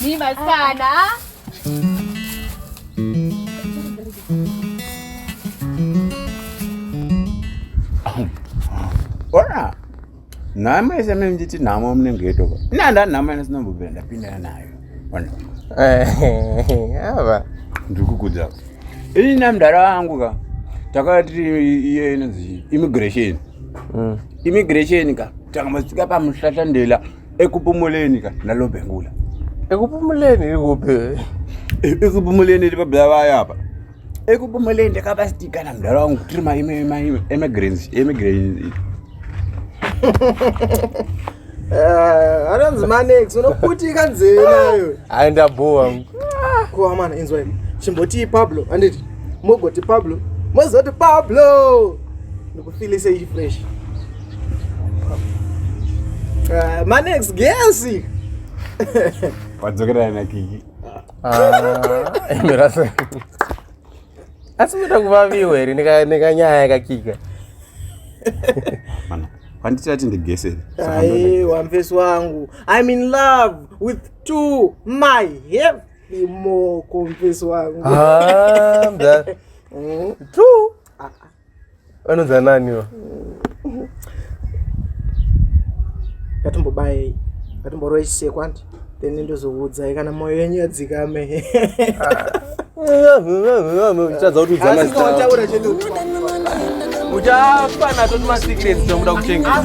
Ni maskana. Ora. Nama isa mimi jiti nama mne ngeto. Na nda nama ina sina mbubira ndapinda nayo. Ona. Eh. Ava. Ndikukuja. Ini namdara wangu ka. Takati iye inonzi immigration. Mm. immigration ka takamatsika pamuhlahlandela ekupumuleni ka nalobhengula ekupumuleni irikupi ekupumuleni iri pabhela vaya apa ekupumuleni ndakabasitikana mdara wangu tiri maimemigrants eh, anonzi manex unoputika nzeve nayo aenda bowa koamana inzwai chimbotii pablo anditi mogoti pablo mozoti pablo Feel say fresh. Uh, my next guess. Wadzokera na kiki. Ah, imerasa. Asi mita kuvaviwa here nekanyaya yakakika. Mana, panditi ati ndigese. Ai, wamfesi wangu. I'm in love with two my heavy more confess wangu. Ah, that. Mm. True. vanonzi nani ivo ngatimbobayei ngatimboroisei kwandi then ndozoudzai kana mwoyo yenyu yadzikame uchadza kuti udzamaitaura chedu uchafa nato timasecrets tomuda kuchengeta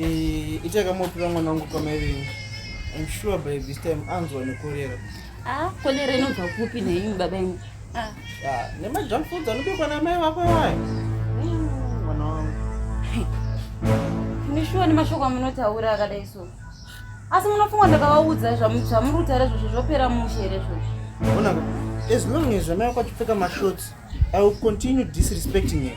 Eh, itai kamopira mwana wangu kwamaivini im sure by this time anzwa nekorera ah, kolera inobva kupi nhenyu baba imi ah. ah, nemajunk foods anobikwa namai vako iwayo hmm, mwana wangu ndishuwa nemashoko amunotaura akadai so asi munofunga ndakavaudza zvamuri kutaura zvozvo zvopera mushe here zvozvo onaka as long as vamai vako achipfeka mashots i will continue disrespecting him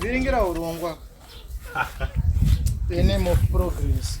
vhiringira urongwa the name of progress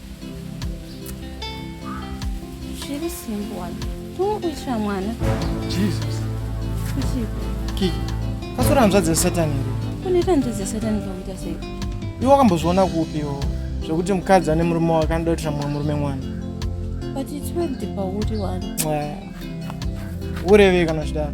zviri simple wani turi kuitira mwana jesus kuchipi kiki kasora hanzvadzi yesatani here kunoita hanzvadzi yesatani pakuita sei iwe wakambozviona kupiwo zvekuti mukadzi ane murume wake anoda kuitira mumwe murume mwana but it's worked pauri wani ureve kana zvidaro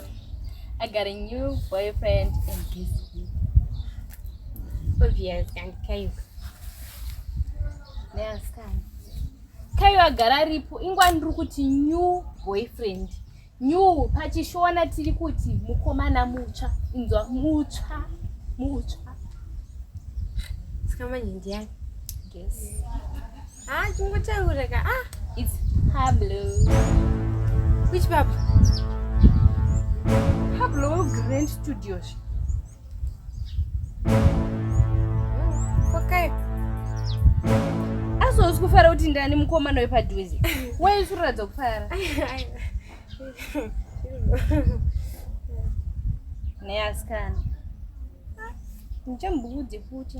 I got a new boyfriend and this week. Obvious and Kayuka. Yes, can. Kayuka agara ripo ingwa ndiri kuti new boyfriend. New pachishona tiri kuti mukomana mutsva inzwa mutsva mutsva. Sika manje ndiyani? Yes. Ah, chingotaura ka. Ah, it's Pablo. Which Pablo? Pablo Grand Studios. Okay. Aso usikufara kuti ndani mukomana wepadhuze. Wewe usiratidza kufara. Neasikana. Ndichambuudze futi.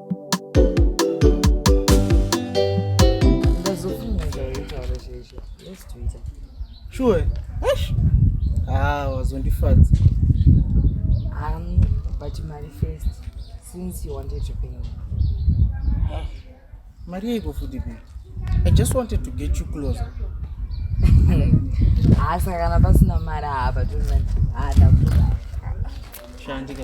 Sure. Eish. Ah, wazondifadza. Um, but mari first since you wanted to pay me. Ah, mari yeiko futi babe? I just wanted to get you closer. Ah, saka kana pasina mari hapa turi manje. Ah, ndakuda. Shandika.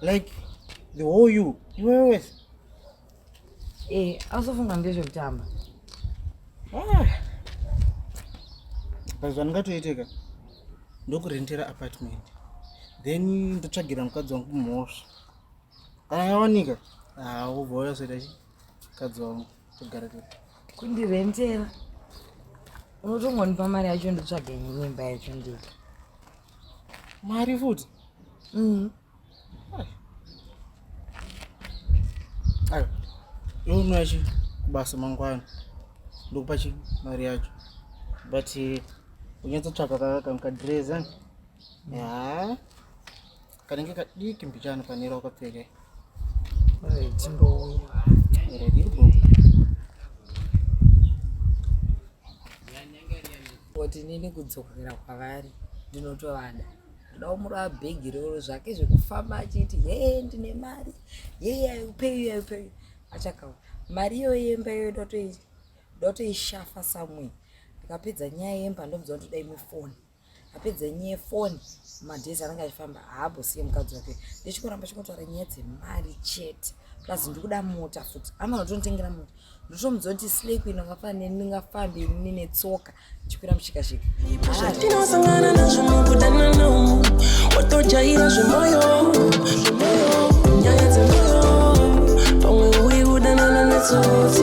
like the whole you iwewe wese eh ausofunga ngezvekutamba ah. but zvandingatoiteka ndokurentera apartment then ndotsvagira mukadzi wangu mhosva kana yawanika haubva ah, wayasoita chi mukadzi wangu togara to kundirentera unotongonipa mari yacho ndotsvaga nyimba yacho ndika mari futi mm. ayo younwa chi kubasa mangwana ndokupa chi mari yacho but eh, unyatsotsvaka kakadreza ya Kanenge kadiki mbichana panera ukapfeke. Ore tindo. Ore dirbo. Oti nini kudzokera kwavari ndinotovada. Ndoda kumura bhegi roro zvake zvekufamba achiti hee ndine mari. Hee ayupeyi ayupeyi. Achakawa. Mari iyo yemba iyo ndotoishafa samwe. Ndikapedza nyaya yemba ndomudzwa kuti dai mufoni. apedza nyaya yefoni madhezi anenge achifamba haabosiye mukadzi wake ndichikoramba chikotaura nyaya dzemari chete plus ndikuda mota futi amana tonotengera mota ndotomudziwa kuti slay queen angafanire ndingafambe ini netsoka ndichikwira mushikashika tinosangana nazvo mukudana nao watojaira zvemoyo nyaya dzemoyo pamwe uyi kudanana netsotsi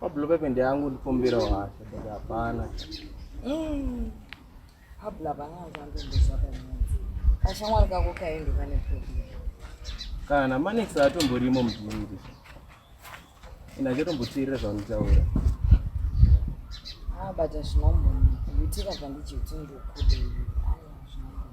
Pablo pepe ndeangu ndikumbirawo hasha but hapana. Mm. Pablo hapana zvandomboza pamunzi. Kashamwari kako kaendo kane problem. Kana manex atomborimo mudhindi. Ina achatomboteerera zvaunitaura. Ah, but hazvinombonaka. Kuitika zvandichiti ndokudei.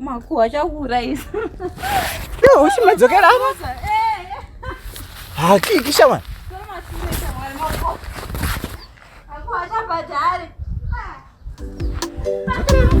makuwa chakuurayisa iwe uchimadzokera apa hakiki shamwari Thank you.